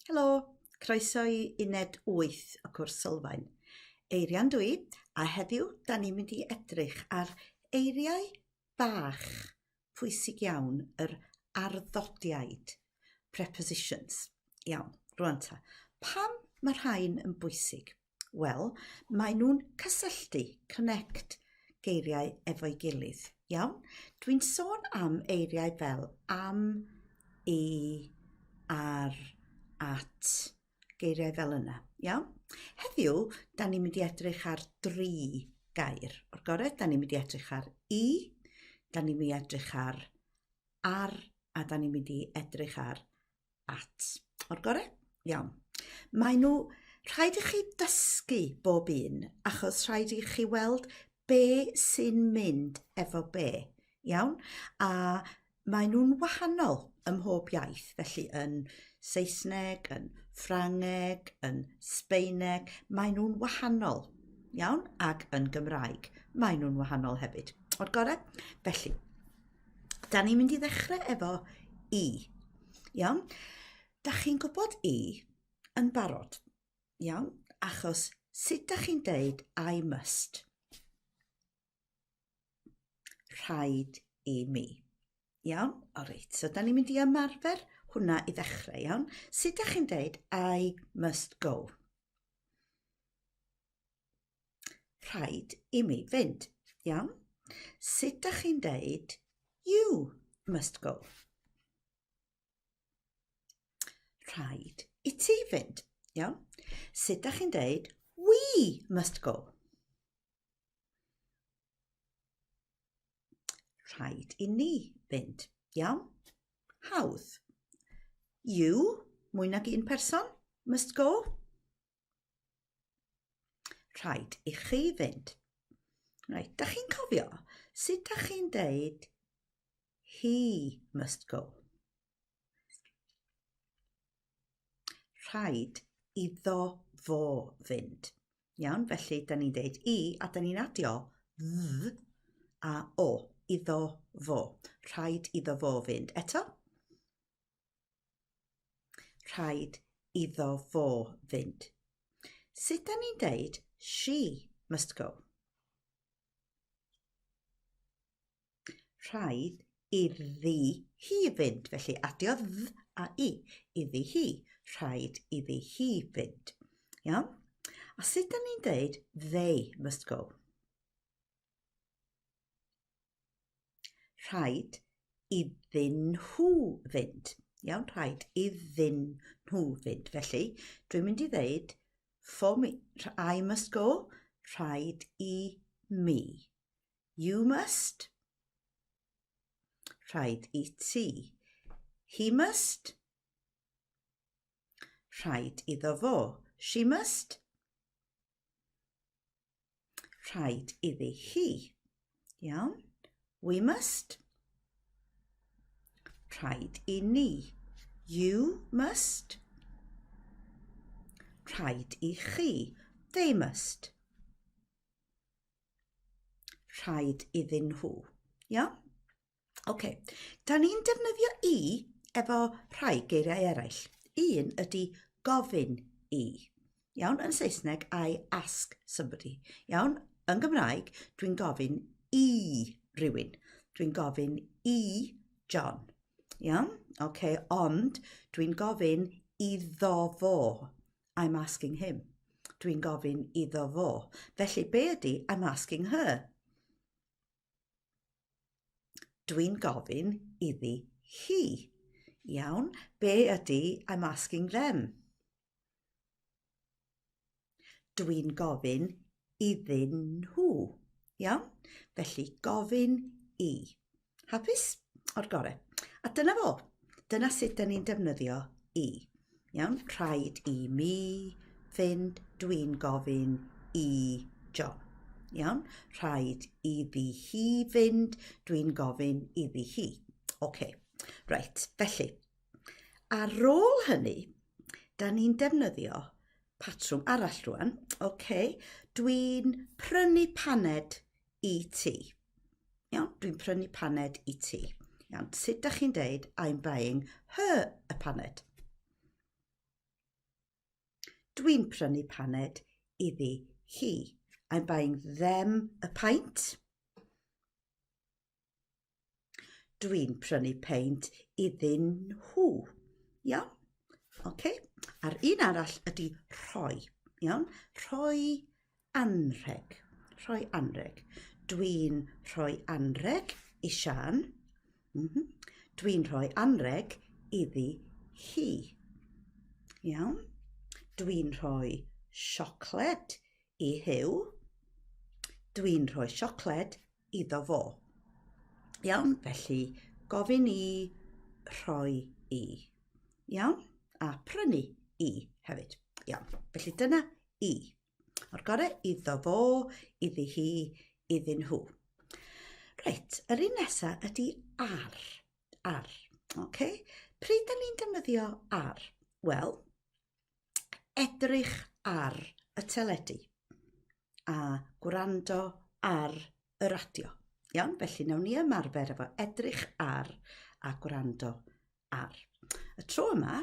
Helo, croeso i uned 8 o cwrs sylfaen. Eirian dwi, a heddiw da ni'n mynd i edrych ar eiriau bach pwysig iawn yr arddodiaid, prepositions. Iawn, rwan ta. Pam mae rhain yn bwysig? Wel, maen nhw'n cysylltu, connect, geiriau efo'i gilydd. Iawn? Dwi'n sôn am eiriau fel am, i, ar, at, geiriau fel yna. Iawn? Heddiw, da ni'n mynd i edrych ar dri gair. O'r gorau, da ni'n mynd i edrych ar i, da ni'n mynd i edrych ar ar, a da ni'n mynd i edrych ar at. O'r gore? Iawn. Mae nhw... Rhaid i chi dysgu bob un, achos rhaid i chi weld be sy'n mynd efo be. Iawn? A mae nhw'n wahanol ym mhob iaith, felly yn Saesneg, yn Ffrangeg, yn Sbeineg, mae nhw'n wahanol. Iawn? Ac yn Gymraeg, mae nhw'n wahanol hefyd. O'r gore? Felly, Da ni'n mynd i ddechrau efo i. Iawn? Da chi'n gwybod i yn barod. Iawn? Achos sut da chi'n deud I must? Rhaid i mi. Iawn? O reit, so da ni'n mynd i ymarfer hwnna i ddechrau, iawn? Sut da chi'n deud I must go? rhaid i mi fynd, iawn? Sut da chi'n deud, you must go? Rhaid i ti fynd, iawn? Sut da chi'n deud, we must go? Rhaid i ni fynd, iawn? Hawdd. You, mwy nag un person, must go. Rhaid i chi fynd. Rhaid, da chi'n cofio sut da chi'n deud he must go? Rhaid iddo fo fynd. Iawn, felly da ni'n deud i a da ni'n adio dd a o iddo fo. Rhaid iddo fo fynd. Eto? Rhaid iddo fo fynd. Sut da ni'n deud she must go? Rhaid iddi hi fynd, felly adio dd a i, iddi hi. Rhaid iddi hi fynd. Iawn? A sut da ni'n deud they must go? Rhaid iddyn nhw fynd. Iawn, rhaid iddyn nhw fynd. Felly, dwi'n mynd i ddeud, for me, I must go, rhaid i mi. You must, rhaid i ti. He must, rhaid iddo fo. She must, Rhaid iddi hi. Iawn. We must. Rhaid i ni. You must. Rhaid i chi. They must. Rhaid iddyn nhw. Iawn? OK, da ni'n defnyddio i efo rhai geiriau eraill. Un ydy gofyn i. Iawn, yn Saesneg, I ask somebody. Iawn, yn Gymraeg, dwi'n gofyn i rywun. Dwi'n gofyn i John. Iawn, oce, okay, ond dwi'n gofyn iddo fo. I'm asking him. Dwi'n gofyn iddo fo. Felly, be ydy I'm asking her? Dwi'n gofyn iddi hi. Iawn, be ydy I'm asking them? Dwi'n gofyn iddyn nhw. Iawn? Felly gofyn i. Hapus? O'r gorau. A dyna fo. Dyna sut da ni'n defnyddio i. Iawn, rhaid i mi fynd, dwi'n gofyn i John. Iawn, rhaid iddi hi fynd, dwi'n gofyn iddi hi. OK, reit, felly. Ar ôl hynny, da ni'n defnyddio patrwm arall rwan. OK, dwi'n prynu paned i ti. Iawn, dwi'n prynu paned i ti. Iawn, sut da chi'n deud I'm buying her a paned? Dwi'n prynu paned iddi hi. I'm buying them a pint. Dwi'n prynu peint iddyn nhw. Iawn? Okay. A'r un arall ydy rhoi. Iawn? Rhoi anrheg. Rhoi anrheg. Dwi'n rhoi anrheg i Sian. Mm -hmm. Dwi'n rhoi anrheg iddi hi. Iawn? Dwi'n rhoi siocled i Huw. Dwi'n rhoi siocled iddo fo. Iawn, felly gofyn i rhoi i. Iawn, a prynu i hefyd. Iawn, felly dyna i. O'r gorau iddo fo, iddi hi, iddyn nhw. Reit, yr un nesaf ydy ar. Ar. Okay? Pryd da ni'n defnyddio ar? Wel, edrych ar y teledu a gwrando ar y radio. Iawn, felly nawn ni ymarfer efo edrych ar a gwrando ar. Y tro yma,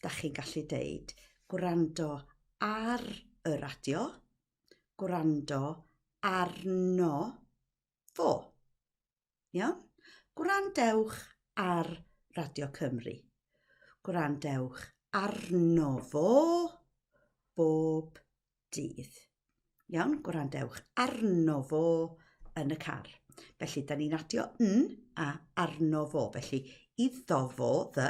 da chi'n gallu deud gwrando ar y radio, gwrando arno fo. Iawn? Gwrandewch ar Radio Cymru. Gwrandewch arno fo bob dydd. Iawn, gwrandewch arno fo yn y car. Felly, da ni'n adio yn a arno fo. Felly, iddo fo, dda,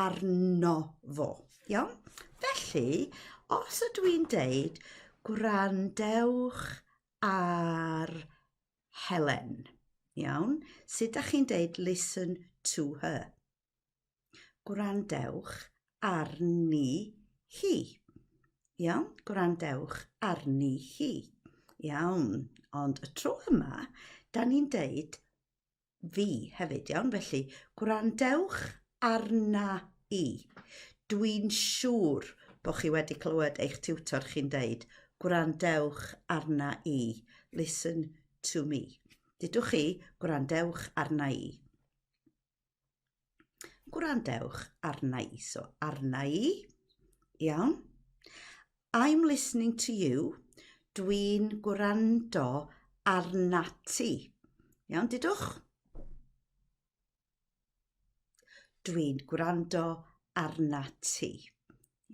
arno fo. Iawn? Felly, os ydw i'n deud gwrandewch ar Helen. Iawn? Sut da chi'n deud listen to her? Gwrandewch arni hi. Iawn? Gwrandewch arni hi. Iawn. Ond y tro yma, da ni'n deud fi hefyd, iawn? Felly, gwrandewch arna i. Dwi'n siŵr bod chi wedi clywed eich tiwtor chi'n deud, gwrandewch arna i, listen to me. Dydwch chi, gwrandewch arna i. Gwrandewch arna i. So, arna i. Iawn. I'm listening to you. Dwi'n gwrando arna ti. Iawn, dydwch. Dwi'n gwrando arna ti.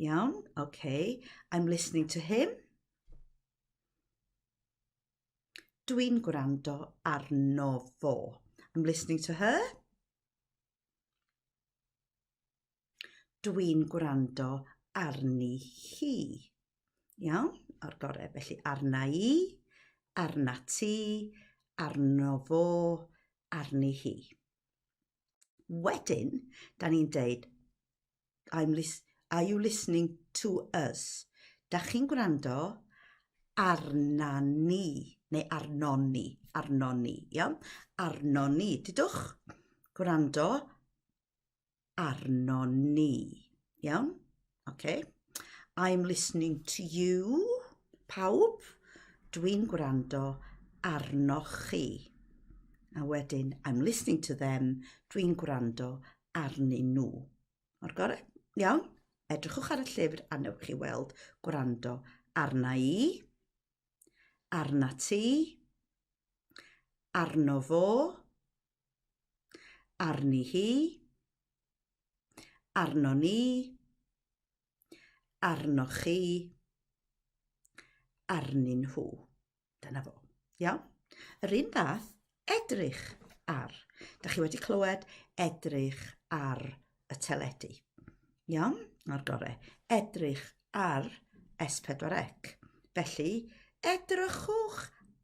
Iawn, okay. I'm listening to him. Dwi'n gwrando arno fo. I'm listening to her. Dwi'n gwrando arni hi. Iawn, o'r gorau. Felly arna i, arna ti, arno fo, arni hi. Wedyn, da ni'n deud, I'm lis are you listening to us? Da chi'n gwrando arna ni, neu arno ni, arno ni, iawn? Arno ni, dydwch? Gwrando arno ni, iawn? Okay. I'm listening to you. Pawb, dwi'n gwrando arnoch chi. A wedyn, I'm listening to them. Dwi'n gwrando arnyn nhw. O'r gorau? Iawn? Edrychwch ar y llyfr a newch chi weld gwrando arna i, arna ti, arno fo, Arni hi. Arno ni. Arno chi. Arnyn nhw. Dyna fo. Iawn? Yr un fath, edrych ar. Da chi wedi clywed edrych ar y teledu. Iawn? O'r gorau. Edrych ar S4C. Felly, edrychwch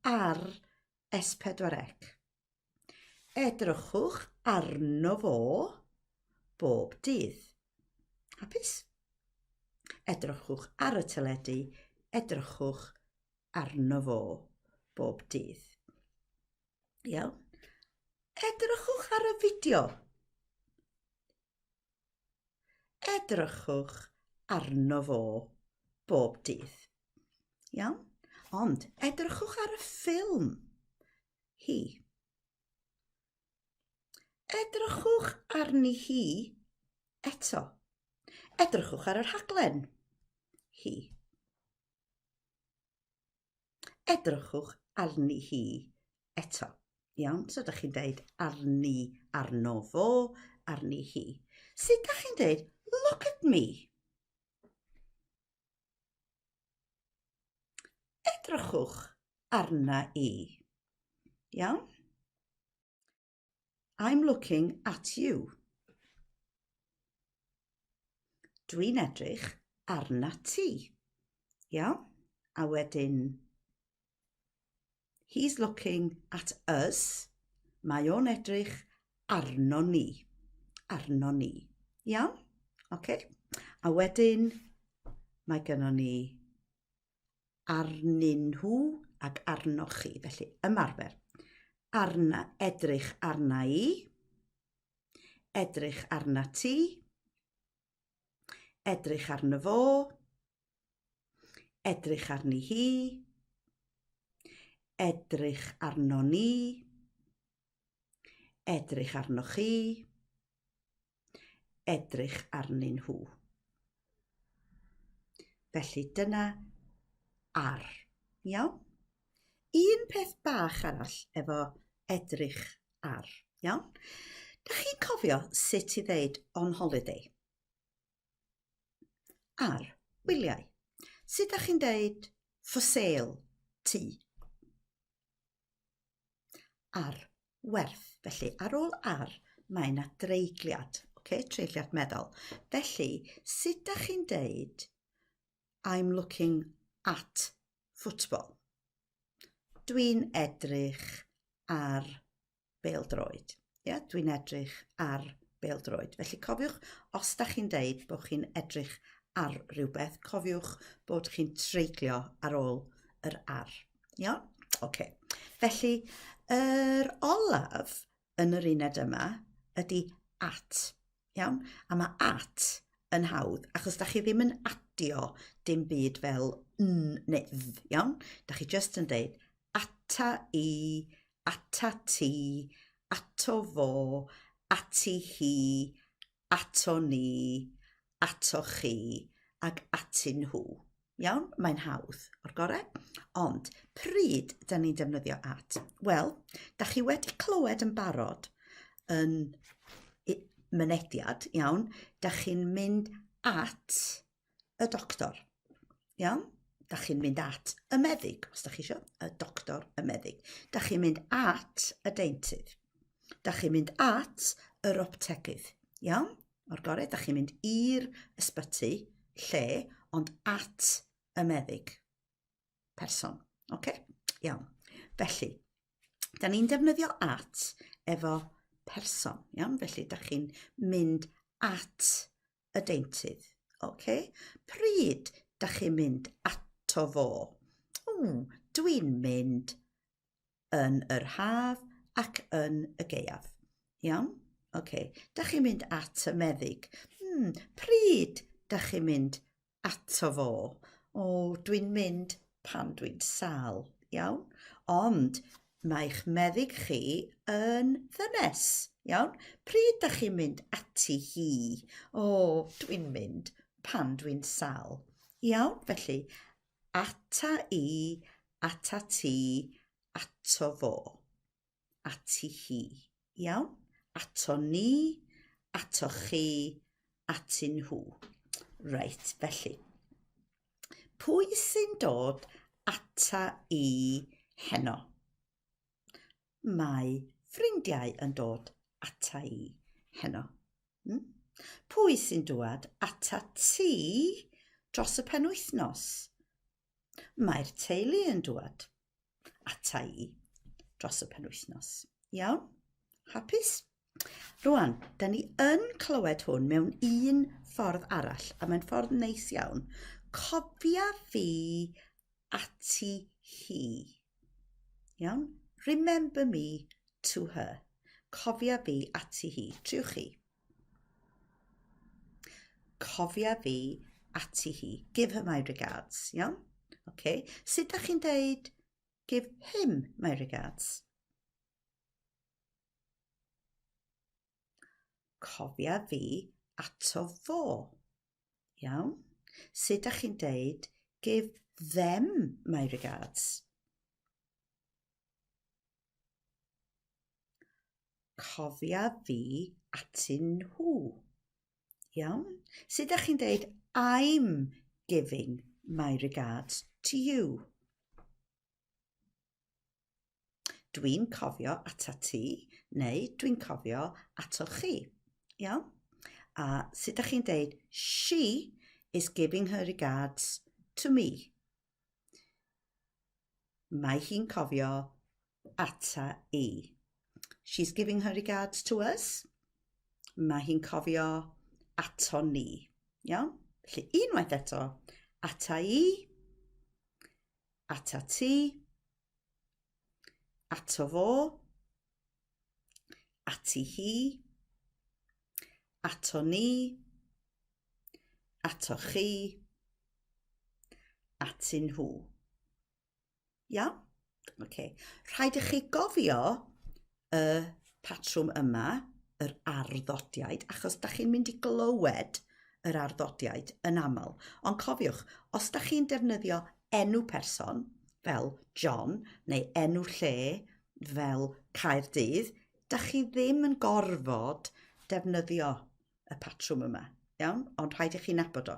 ar S4C. Edrychwch arno fo bob dydd. Hapus? Edrychwch ar y teledu, edrychwch arno fo bob dydd. Iawn? Edrychwch ar y fideo. Edrychwch arno fo bob dydd. Iawn? Ond edrychwch ar y ffilm. hi. Edrychwch arni hi eto. Edrychwch ar y rhaglen. Hi. Edrychwch arni hi eto. Iawn, so ydych chi'n dweud arni arno fo, arni hi. Sut ydych chi'n dweud, look at me? Edrychwch arna i. Iawn? I'm looking at you. Dwi'n edrych arna ti. Iawn? A wedyn He's looking at us. Mae o'n edrych arno ni. Arno ni. Iawn? Okay. A wedyn, mae gynno ni arnyn nhw ac arnoch chi. Felly, ymarfer. Arna, edrych arna i. Edrych arna ti. Edrych arno fo. Edrych arni hi. Edrych arno ni. Edrych arno chi. Edrych arnyn nhw. Felly dyna ar. Iawn? Un peth bach arall efo edrych ar. Iawn? Da chi'n cofio sut i ddeud on holiday? Ar, wyliau. Sut da chi'n deud for sale, ti? Ar, werth. Felly, ar ôl ar, mae yna dreigliad, okay? treigliad meddwl. Felly, sut da chi'n deud I'm looking at football? Dwi'n edrych ar beldroed. Ia, dwi'n edrych ar beldroed. Felly cofiwch, os da chi'n deud bod chi'n edrych ar rhywbeth, cofiwch bod chi'n treiglio ar ôl yr ar. Ia? Oce. Okay. Felly, yr olaf yn yr uned yma ydy at. Iawn? A mae at yn hawdd, achos da chi ddim yn adio dim byd fel n neu dd, iawn? Da chi just yn dweud ata i, ata ti, ato fo, ati hi, ato ni, ato chi, ac atyn nhw. Iawn, mae'n hawdd o'r gorau. Ond pryd da ni'n defnyddio at? Wel, da chi wedi clywed yn barod yn mynediad, iawn, da chi'n mynd at y doctor. Iawn? Da chi'n mynd at y meddyg, os da chi eisiau, y doctor, y meddyg. Da chi'n mynd at y deintydd. Da chi'n mynd at yr optegydd. Iawn? o'r gorau, da chi'n mynd i'r ysbyty lle, ond at y meddyg person. Oce? Okay? Iawn. Felly, da ni'n defnyddio at efo person. Iawn? Felly, da chi'n mynd at y deintydd. Oce? Okay? Pryd da chi'n mynd ato fo? Ww, dwi'n mynd yn yr haf ac yn y gaeaf. Iawn? Oce, okay. da chi'n mynd at y meddyg. Hmm, pryd da chi'n mynd ato fo? O, dwi'n mynd pan dwi'n sal, iawn? Ond mae'ch meddyg chi yn ddynes, iawn? Pryd da chi'n mynd ati hi? O, dwi'n mynd pan dwi'n sal. Iawn, felly, Ata i, ata ti, ato fo. Ati hi. Iawn? Ato ni, ato chi, ati nhw. Reit, felly. Pwy sy'n dod ata i heno? Mae ffrindiau yn dod ata i heno. Hmm? Pwy sy'n dŵad ata ti dros y penwythnos? Mae'r teulu yn dŵad ata i dros y penwythnos. Iawn? Hapus? Rwan, da ni yn clywed hwn mewn un ffordd arall, a mae'n ffordd neis iawn. Cofia fi ati hi. Iawn? Remember me to her. Cofia fi ati hi. Triwch chi. Cofia fi ati hi. Give her my regards. Iawn? Okay. Sut da chi'n deud give him my regards? Cofia fi ato fo. Iawn? Sut ydych chi'n deud, give them my regards. Cofia fi atyn nhw. Iawn? Sut ydych chi'n deud, I'm giving my regards to you. Dwi'n cofio ata ti neu dwi'n cofio ato chi. Iawn? A sut da chi'n deud, she is giving her regards to me. Mae hi'n cofio ata i. She's giving her regards to us. Mae hi'n cofio ato ni. Iawn? Felly unwaith eto, ata i, Ata ti. Ato fo. Ati hi. Ato ni. Ato chi. Atyn nhw. Iawn? Okay. Rhaid i chi gofio y patrwm yma, yr arddodiaid, achos da chi'n mynd i glywed yr arddodiaid yn aml. Ond cofiwch, os da chi'n defnyddio enw person fel John neu enw lle fel Caerdydd, da chi ddim yn gorfod defnyddio y patrwm yma, iawn? Ond rhaid i chi nabod o.